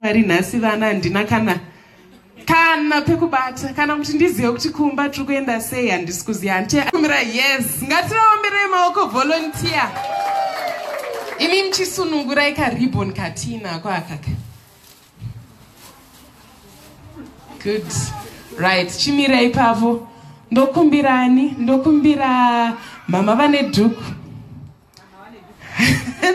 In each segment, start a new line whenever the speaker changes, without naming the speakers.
Mwari nhasi vana handina kana kana pekubata kana kuti ndizive kuti kumba tiri kuenda sei handisi kuziva hantiakumira yes ngativaomberei maoko volunteer imi muchisunungurai karibon katina kwaakaka good right chimira ipavo ndokumbirani ndokumbira mama vane dhuku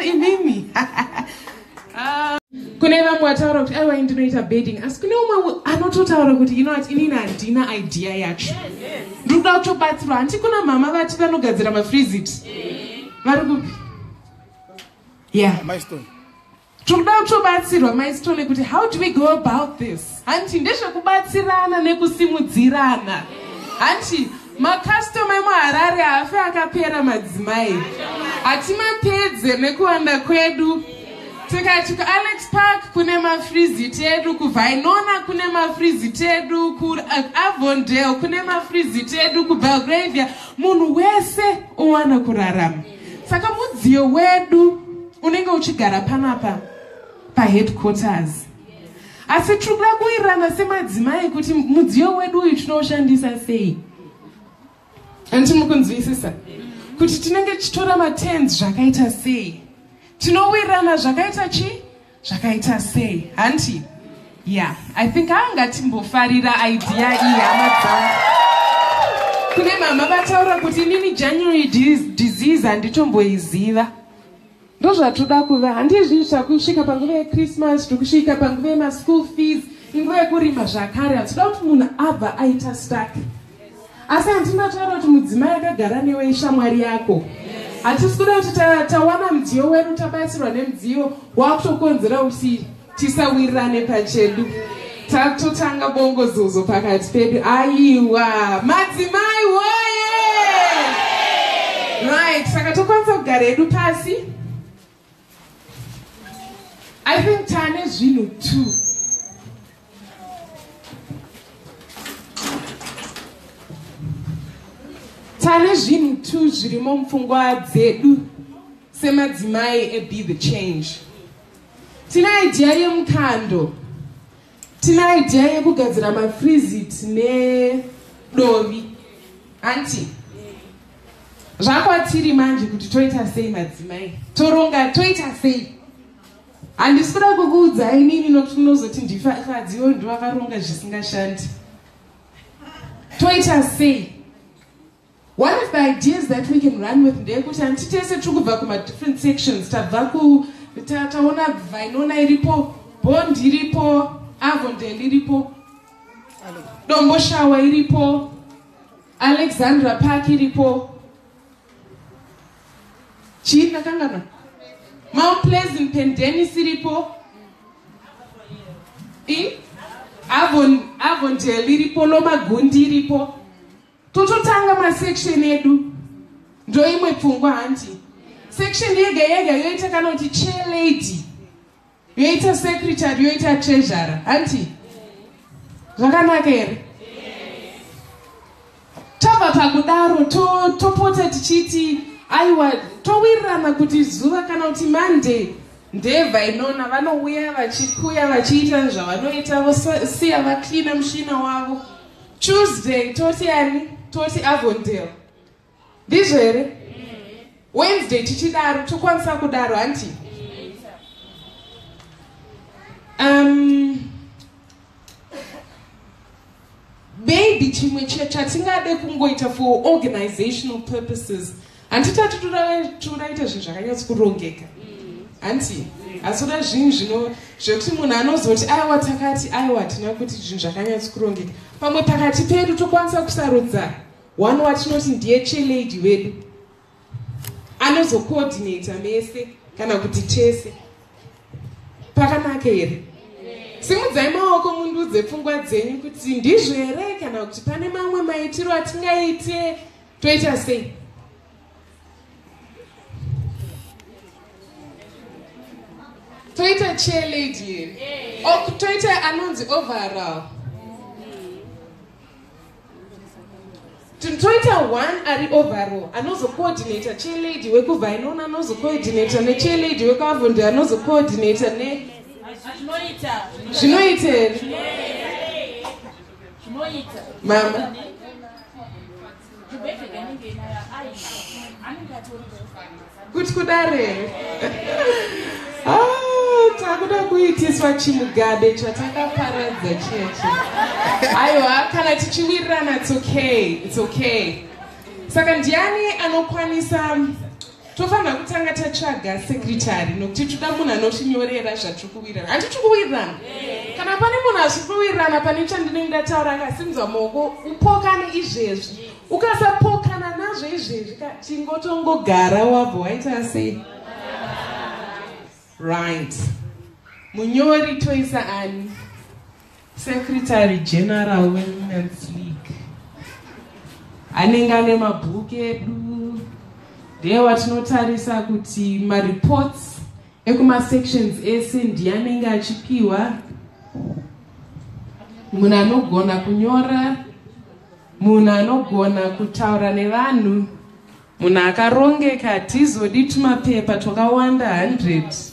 inini ah. kune vamwe vataura kuti aiwa ndinoita bedding asi kune umwe anototaura kuti ino ati inini handina idea yacho ndiri kuda kutobatsirwa hanti kuna mhama vati vanogadzira mafrizit vari kupi yeah. Tikuda kutobatsirwa mai Sithole kuti how do we go about this? Hanti ndezvekubatsirana nekusimudzirana. Hanti makastoma emuharare haafe akapera madzimai hatimapedze nekuwanda kwedu tikati kualex park kune mafrizit edu kuvainona kune mafrizit edu kuavondale kune mafrizit edu kubelgravia munhu wese owana kurarama saka mudziyo wedu unenge uchigara panapa paheadquarters asi tiri kuda kuwirirana semadzimai kuti mudziyo wedu uyu tinoushandisa sei anditi muri kunzwisisa kuti tinenge tichitora matens zvakaita sei tinowirirana zvakaita chii zvakaita sei hanti yeah i think anga timbofarira idea iyi hama dzangu kune mama vataura kuti inini january disease handitomboiziva ndozvatoda kuva handizvii zvakusvika panguva yechristmas zvikusvika panguva yemaschool fees inguva yekurima zvakare hatida kuti munhu abva aita stack asi handinotaura kuti mudzimai akagara newe ishamwari yako hatisi kuda kuti tawana mudziyo wedu tabatsirwa nemudziyo wakutokonzera kuti tisawirirane pachedu tatotanga bongozozo pakati pedu aiwa madzimai woye right saka tokwanisa kugara edu pasi I think tane zvinhu two tane zvinhu two zvirimo mupfungwa dzedu semadzimai ebe the change tine idea yemukando Tine idea yekugadzira mafreezit nedovi hanti zvakwatiri manje kuti toita sei madzimai toronga toita sei handisi kuda kukuudza inini nokuti munozoti ndifakadziwo ndovakaronga zvisingashandi toita sei One of the ideas that we can run with ndeyekuti hanti tese tiri kubva kumadifferent sections tabva ku taona vainona iripo bond iripo avondel iripo domboshawa iripo alexandra park iripo chii ndakangana mount pleasant pendenis iripo avondel iripo lomagundi iripo tototanga masection edu ndoimwe pfungwa hanti section yega yega yoita kana kuti chelady yoita secretary yoita treasure hanti zvakanaka here tabva pakudaro topota to tichiti aiwa towirirana kuti zuva kana kuti monday ndeva inona vanouya vachikuya vachiita zvavanoita vosiya vacleana mushina wavo Tuesday toti ani? Toti Avondale. Ndizvo here? Wednesday tichidaro tokwanisa kudaro hanti? Um, maybe chimwe chatingade kungoita for organizational purposes Handiti atitura tura ite zvinhu zvakanyatsi kurongeka hanti asi uda zvinhu zvino zvekuti munhu anozoti aiwa takati aiwa hatina kuti zvinhu zvakanyatsi kurongeka pamwe pakati pedu tokwanisa kusarudza one watinoti ndiye chelady wedu anozocoordinata mese kana kuti tese pakanaka here simudzai maoko mundudze pfungwa dzenyu kuti ndizvo here kana kuti pane mamwe maitiro atingaite toita sei toita chair lady here or toita anonzi overall toita one ari overall anozocoordinator chair lady wekuva inona anozocoordinator nechair lady wekuavondi anozocoordinator ne zvinoita here mama kuti kudare ah, takuda kuitiswa chimugabe chatakaparadza cheche aiwa kana tichiwirirana its okay its okay saka ndiani anokwanisa tofanira kutanga tatsvaga sekritari nokuti toda munhu anotinyorera zvatiri kuwirirana handi tiri kuwirirana kana pane munhu asiri kuwirirana pane chandinenge ndataura akasimudza maoko upokane izvezvi ukasapokana nazvo izvezvi ka tingotongogara wabva waita sei right munyori toisa ani Secretary General weWomen's League anenge ane mabhuku edu ndiye watinotarisa kuti mareports ekumasections ese ndiye anenge achipiwa munhu anogona kunyora munhu anogona kutaura nevanhu munhu akarongeka hatizodi tumapepa twakawanda 100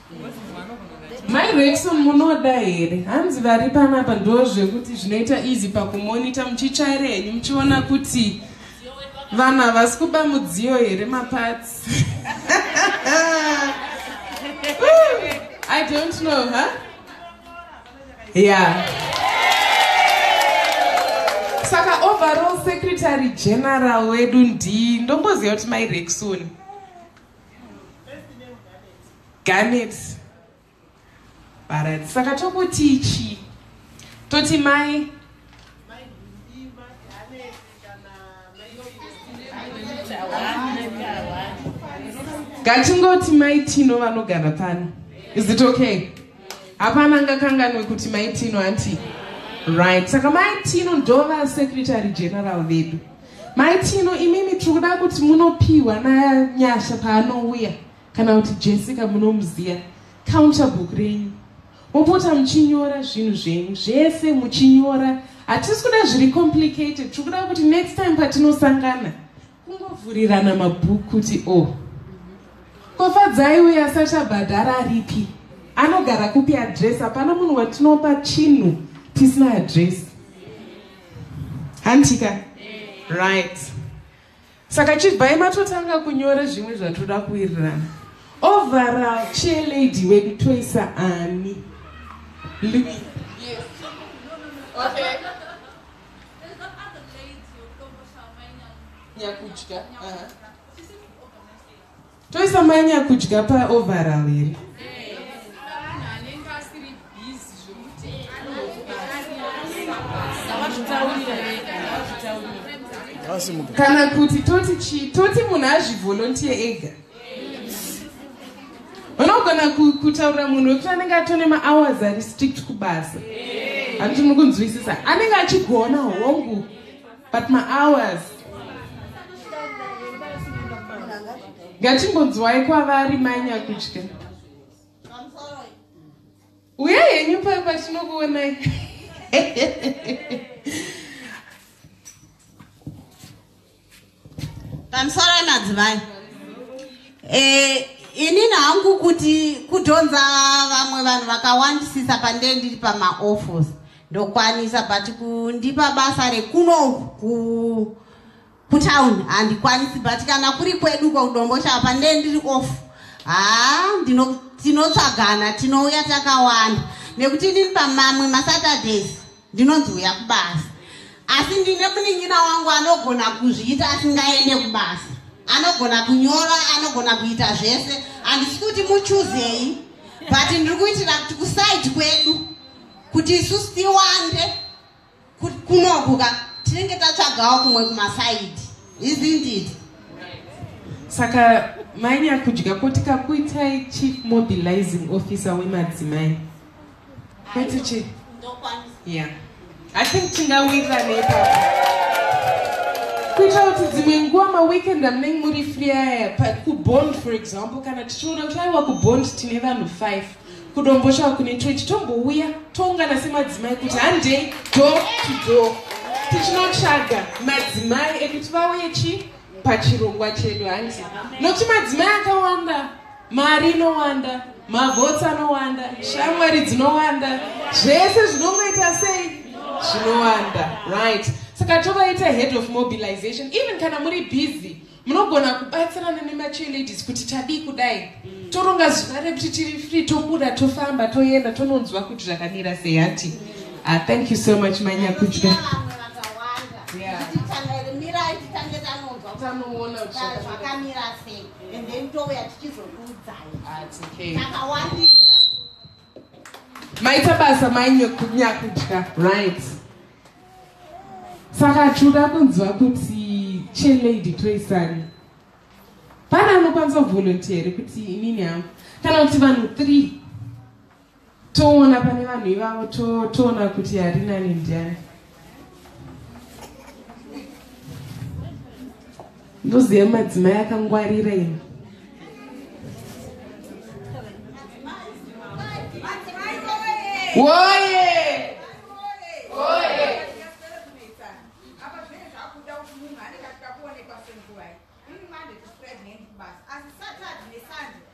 Mai Rexon munoda here? Hanzi vari panapa ndo zvekuti zvinoita easy pakumonita muchitsvaira henyu muchiona kuti vanhu havasi kuba mudziyo here maparts. I don't know, huh? Yeah. Saka overall secretary general wedu ndii ndomboziva kuti mai Rexon. Garnet. Alright, saka tokuti chi? Toti mai ngatingoti mai tino vanogara pano is it okay hapana angakanganwe kuti mai tino anti right saka mai tino ndova secretary general vedu Mai Tino, imimi tiri kuda kuti munopiwa naNyasha paanouya kana kuti Jessica munomuziya counter book renyu mopota muchinyora zvinhu zvenyu zvese muchinyora hatisi kuda zviri complicated tiri kuda kuti next time patinosangana kungovhurirana mabhuku kuti o oh, kofadzai uyo asati abhadhara aripi anogara kupi adress hapana munhu watinopa chinhu tisina adress hantika right saka chibvai matotanga kunyora zvimwe zvatoda kuwirirana overall chair lady wedu toisa ani Louis. Yes. Okay. Nyakuchka. Uh-huh. Toisa mai nyakudya pa overall here? kana kuti toti chii toti munhu azvivolontiye ega unogona kutaurira munhu wekuti anenge atone mahours ari strict kubasa handiti muri kunzwisisa anenge achigona hongu but mahours ngatimbonzwai kwavari manya kudya uye henyu pa patinokuonai pamsorai madzivai eh, inini hangu kuti kudhonza vamwe vanhu vakawandisisa pandee ndiri pamaoffice ndokwanisa but kundipa basa rekuno ku kutown handikwanisi but kana kuri kwedu kwekudomboshapa nde ndiri off haa tinotsvagana tinouya takawanda nekuti ndiri pamamwe masaturdays ndinonzi uya kubasa asi ndine muningina wangu anogona kuzviita asingaende kubasa anogona kunyora anogona kuita zvese handisi kuti muchuzei but ndiri kuitira kuti kusaidi kwedu kuti isusu tiwande kunokuka tinenge tatsvagawo kumwe kumasaidi izindid saka manya kudya ko tikakuitai chief mobilizing officer wemadzimai kwetichi yeah i think tingawirira neipapa kuita kuti dzimwe nguva maweekend amunenge muri free aya kubond for example kana tichiona kuti aiwa kubond tine vanhu five kudomboshawa kune twechi tombouya toungana semadzimai kuti handei do to do tichinotsvaga madzimai ekuti vauye chi pachirongwa chedu hanti nokuti madzimai akawanda mari inowanda mavhotsi anowanda shamwari dzinowanda zvese zvinongoita sei zvinowanda right saka tovaita head of mobilization even kana muri busy munogona kubatsirana nemacheerladies kuti tadii kudai mm. toronga zuva rekuti tiri free tobuda tofamba toenda tononzwa kuti zvakamira sei hanti mm. ah, thank you so much manyakudya zvakamira sei and then touya tichizokuudzai ah, takawandisa maita basa mainyakudya right saka tinoda kunzwa kuti chelady toisani pane anokwanisa kuvolontiere kuti inini hangu kana kuti vanhu three toona pane vanhu ivavo toona kuti harinani ndiani ndoziva madzimai akangwarira ini woye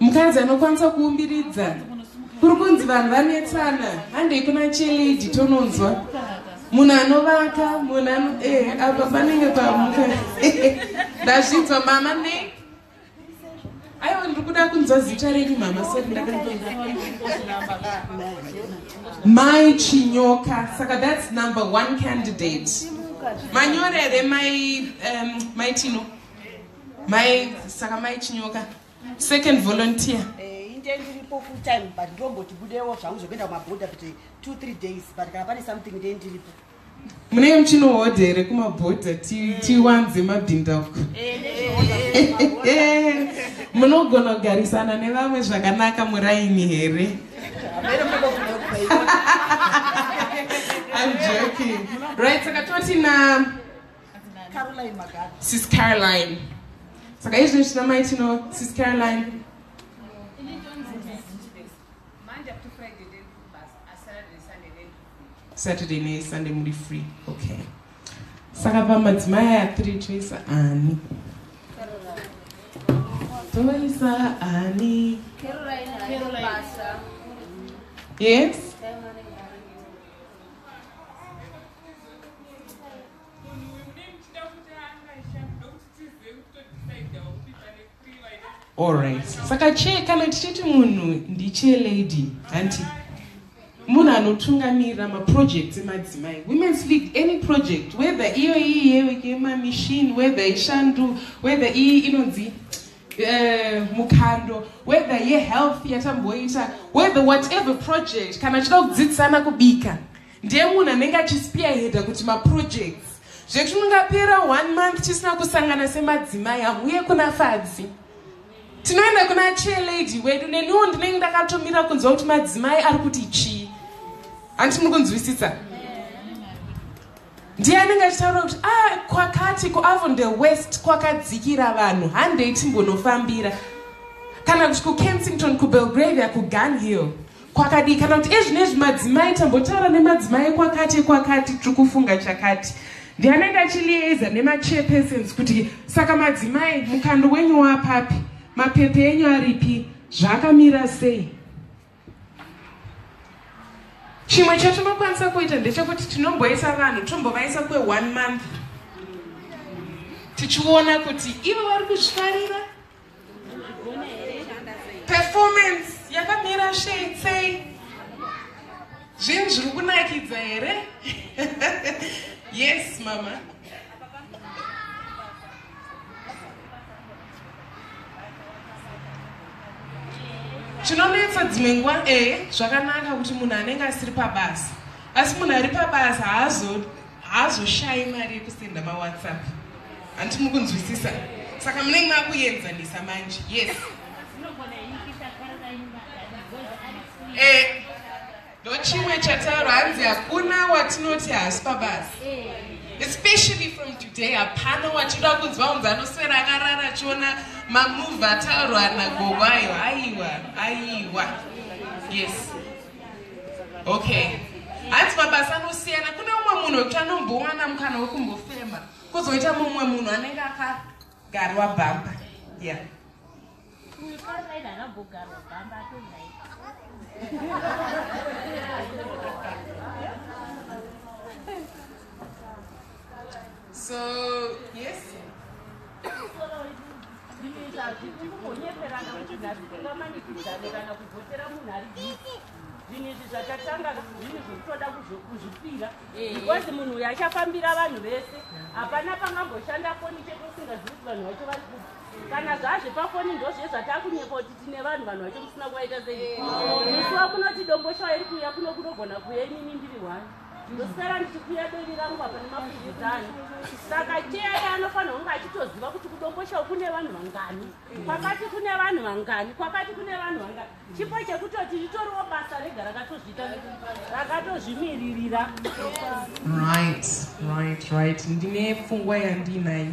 mukadzi anokwanisa kuumbiridza kuri kunzi vanhu vanetsana handei kuna chelidi tononzwa munhu anovaka munhu ano eh, apa panenge pamuka ndazvinzwa mama ne aiwa ndiri kuda kunzwa zita renyu mama sori ndakmai chinyoka saka thats number one candidate manyorere mai um, maitino mai saka mai chinyoka second volunteer eh, intend iripo full time but ndomboti budewo zvangu zvekuenda kumaboda kuti two three days but kana pane something intend iripo munenge muchinohodha here kumabhodha tiwanze mabhinda uko munogona kugarisana nevamwe zvakanaka muraini here I'm joking. Right, so I got 29. sis caroline saka izvi zvina mai tino sis caroline saturday nesunday muri free okay saka pamadzimai aya three choisa ani toisa ani yes allright saka chee kana tichiti munhu ndichee lady hanti munhu anotungamirira maprojects emadzimai women's league any project whether iyo iyi yemamachine whether ishandu whether iyi inonzi Eh, mukando whether yehealth yatamboita whether whatever project kana achida kudzidzisana kubika ndiye munhu anenge achispearheada kuti maprojects zvekuti mungapera one month tisina kusangana semadzimai hamuye kuna fadzi tinoenda kuna chelady wedu neniwo ndinenge ndakatomira kunzwa kuti madzimai ari kuti chii hanti muri kunzwisisa yeah. ndiye anenge achitaura kuti a ah, kwakati kuavon the west kwakadzikira vanhu handei timbonofambira kana kuti kukensington kubelgravia kugun hill kwakadii kana kuti ezvino ezvi madzimai tambotaura nemadzimai kwakati kwakati tiri kufunga chakati ndiye anenge achilieza nemachairpersons kuti saka madzimai mukando wenyu wapapi mapepe enyu aripi zvaakamira sei chimwe chatinokwanisa kuita ndechekuti tinomboisa vanhu tombovaisa kwe one month tichiona kuti ivo vari kuzvifarira performance yakamira shei sei zvinhu zviri kunakidza here yes mama chinonetsa dzimwe nguva e zvakanaka kuti munhu anenge asiri pabasa asi munhu ari pabasa haazoshayi mari yekusenda mawhatsapp hanti muri kunzwisisa saka munenge makuenzanisa manje yes e Ndochimwe chataura hanzi hakuna watinoti hasi pabasa especially from today hapana wachida kunzwa unzi anoswera akarara achiona mamove ataurwa nagogo ayo aiwa aiwa yes okay hanzi mabasa anosiyana kune umwe munhu wekuti anombowana mukana wekumbofema kozoita mumwe munhu anenge akagarwa bhamba yeah Uyu Caroline anambogarwa gamba atonai. So, yes. Kunyeperana kuti nhasi tingamanikidzane kana kuvhotera munhu ari busy. zvinhu izvi zvatatanga zvinhu zvekutoda kuzvipira eh. because munhu uyu achafambira vanhu vese hapana pangamboshanda foni chete usingazivi kuti vanhu vacho vari kupi kana zvazve pafoni ndozviye zvatakunyepa kuti tine vanhu vanhu vacho musina kuvaita sei musi wakunoti domboshawa iri kuuya kuno kunogona kuuya inini ndiri wani ndosara ndichikuya bevi rangu apa nemafudzano saka cheyai anofanira kunge achitoziva kuti kudomboshawa kune vanhu vangani kwakati kune vanhu vangani kwakati kune vanhu vangani chipo chekutoti ritoriwo basa rega rakatozviita rakatozvimiririra right right right ndine pfungwa yandinayo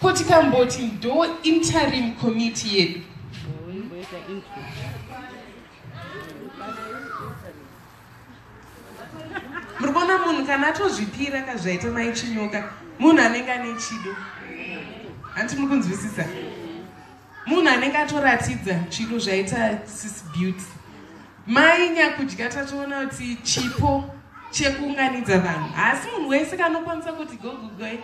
Ko tikamboti ndo interim committee yedu muri kuona munhu kana atozvipira ka zvaita mai chinyoka munhu anenge ane chido hanti muri kunzwisisa munhu anenge atoratidza chido zvaita sis beauty Mai nyakudya tatoona kuti chipo chekuunganidza vanhu haasi munhu wese kanokwanisa kuti gogugoi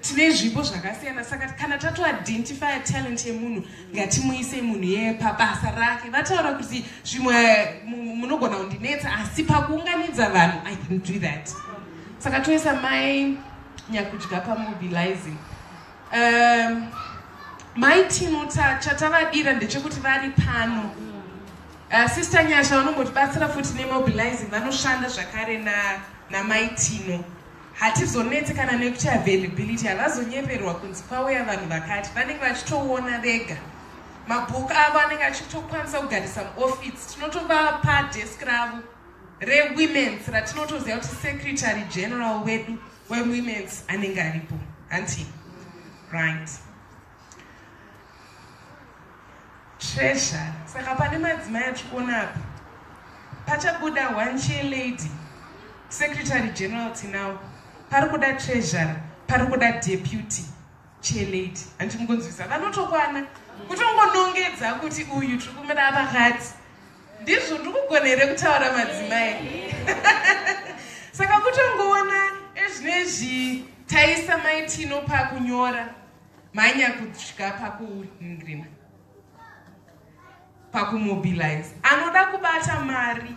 tine zvipo zvakasiyana saka kana tatoidentifya talent yemunhu ngatimuise munhu yeye pabasa rake vataura kuti zvimwe munogona kundinetsa asi pakuunganidza vanhu i can do that saka toisa mai nyakudya pamobilizing Um, mai tino chatavadira ndechekuti vari pano uh, sister nyasha vanombotibatsira futi nemobilizing vanoshanda zvakare namai na tino hatizonetse kana nekuti availability havazonyeperwa kunzi kwauya vanhu vakati vanenge vachitoona vega mabhuku avo anenge achitokwanisa kugarisa muoffice tinotovapa desk ravo rewomens ratinotoziva kuti secretary general wedu wewomen's anenge aripo hanti right treasure saka pane madzimai atiri kuona apa pachabuda one chair lady secretary general tinawo pari kuda treasurer pari kuda deputy chair lady hanti mukunzwisa vanotokwana kutongonongedza kuti uyu tiri kumira vakadzi Ndizvo ndikugona here kutaura madzimai? Saka kutongoona ezvinezvi taisa maitino pakunyora manya kusvika pakungrina pakumobilize anoda kubata mari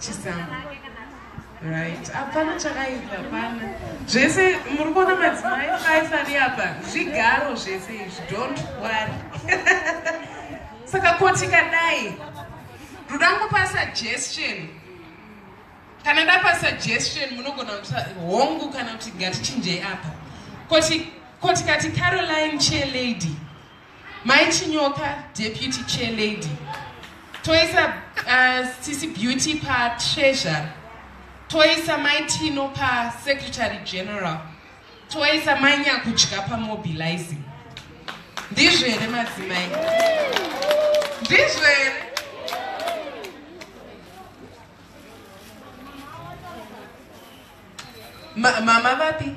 Chisamu. Right. Hapana chakaipa hapana. Zvese muri kuona madzimai faisari apa zvigaro zvese izvi don't worry. Saka koti kadai rudango pa suggestion kana ndapa suggestion munogona kuti hongu kana kuti ngatichinjei apa koti koti kati caroline chair lady Mai Chinyoka, Deputy Chair Lady. Toisa uh, Sisi Beauty pa Treasure. Toisa Mai Tino pa Secretary General. Toisa Mai Nyakudya pa Mobilizing. Ndizvo here madzimai? Ndizvo here? Ma mama vapi?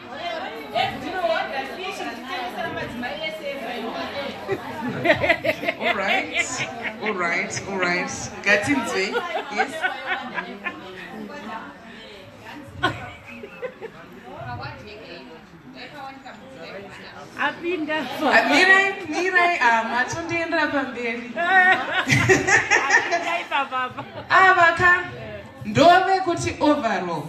all right, all right, all right. Gatinzwe, yes. apinda mirai mirai matondiendera pamberi ava ka ndove kuti overall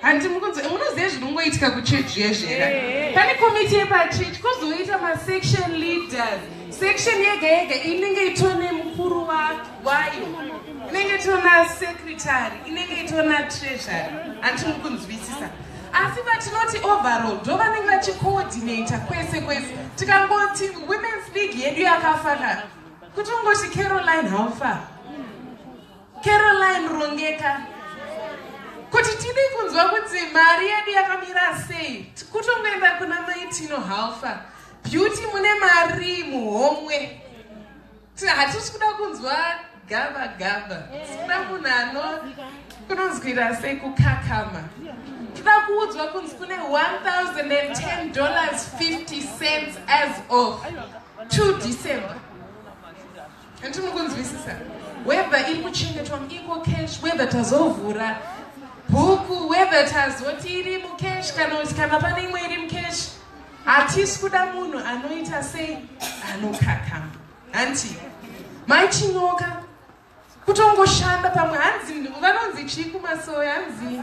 hanti mukunzi munoziva zvinongoitika kuchechi yezvera pane komiti yepachechi kozoita masection leaders section yega yega inenge itone mukuru wayo inenge itona secretary inenge itona treasury hanti mukunzwisisa asi vatinoti overall ndo vanenge vachicoordinata kwese kwese tikangoti womens league yedu yakafanana kuti ungoti caroline haufa Caroline Rongeka kuti tidi kunzwa kuti mari yedu yakamira sei kutongoenda kuna maitino halfa beauty mune mari muhomwe hatisi kuda kunzwa gava gava sikuda munhu ano kunonzwira sei kukakama tida kuudzwa kunzi kune 1010 dollars 50 cents as of 2 december Hanti mukunzwisisa whether iri kuchengetwa muiko cash whether tazovhura bhuku whether tazoti iri mucash kana kuti kana pane imwe iri mucash hatisi kuda munhu anoita sei anokakama hanti mai chinyoka kutongoshanda pamwe hanzi vanonzi chii kumasoya hanzi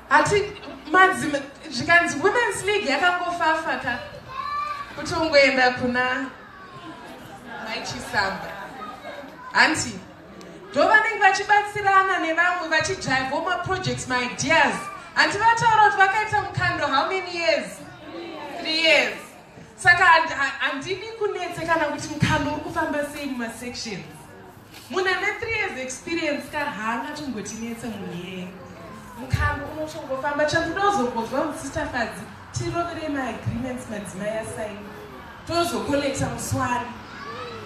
Hati madzima zvikanzi women's league yakangofafa ka kutongoenda kuna maichisamba hanti ndo vanenge vachibatsirana nevamwe vachidrivewo maprojects maideas hanti vataura kuti vakaita mukando how many years three years saka handidi kunetse kana kuti mukando uri kufamba sei mumasections Munhu ane 3 years experience ka haangatombotinetse munhu iyeye. Mukambo unotongofamba chandoda uzongonzwa musista Fadzi tirovere maagreements madzimai asaini tozokolekta muswari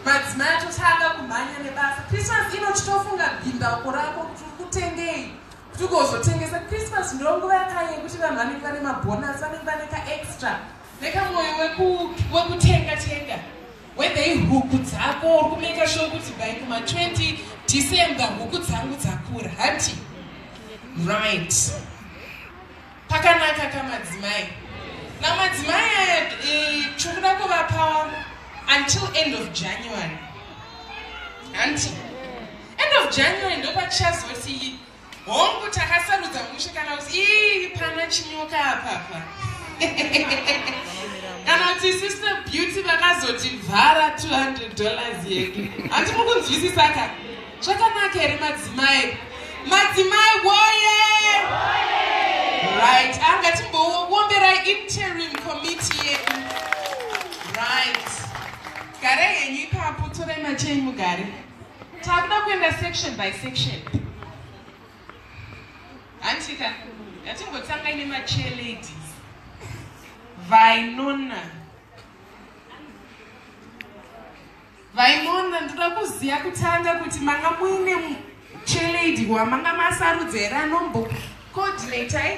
madzimai atotanga kumhanya nebasa christmas ino titofunga bhimbauko rako kuti uri kutengei kuti ugozotengesa christmas ndo nguva yakaye yekuti vanhu vanenge vane mabhonasi vanenge vane kaextra nekamwoyo wekutenga tenga Whether ihuku dzako uri kumaker sure kuti by kuma 20 December huku dzangu dzakura hati right. Pakanaka kamadzimai. Na madzimai aya eh, tikuda kuvapa until end of January. Hanti? End of January ndopachazoti Hongu takasarudza mushe kana kuti ii pana chinyoka apapa. Kana kuti sister beauty vakazoti vhara 200 dollars yedu. Hanti mukunzwisisa ka? Zvakanaka here madzimai? Madzimai woye! Right, anga timbowombera interim committee yedu. Right. Gare henyu ipapo torai machei mugare. Takuda kuenda section by section. Hantika, ngatimbotanga ine machair ladies. Vainona. Vainona ndoda kuziva kutanga kuti manga muine chair lady wamanga masarudza here anombo coordinator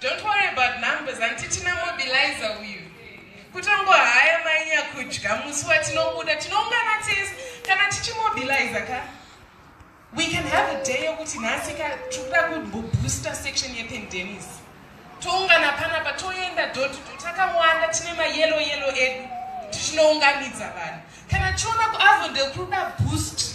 Don't worry about numbers and tichina mobilizer uyu. Kutongo haya mainya kudya musi watinobuda tinoungana tese kana tichimobilizer ka. We can have a day yokuti nhasi ka tikuda kubooster section yependenis. Toungana panapa toenda door to door takawanda tine mayellow yellow edu tichinounganidza vanhu. Kana tichiona kuavondel kuda boost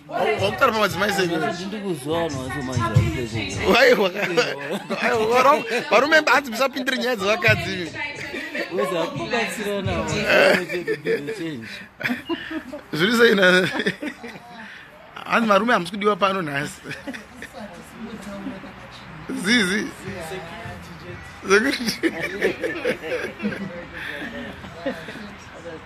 wakutara pamadzimai sevarume hanzi musapindire nyaya dzevakadzi zviri sei hanzi varume hamusi kudiwa pano nhasi zizi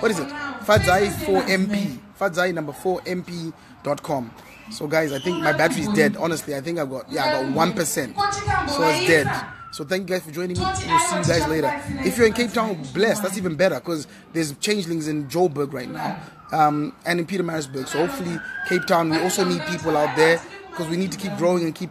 what is it fadzai 4 mp fadzai number 4 mp dot com so guys i think my battery is dead honestly i think i've got yeah i got one percent so it's dead so thank you guys for joining me we'll see you guys later if you're in cape town bless that's even better because there's changelings in joburg right now um, and in peter marisburg so hopefully cape town we also need people out there because we need to keep growing and keep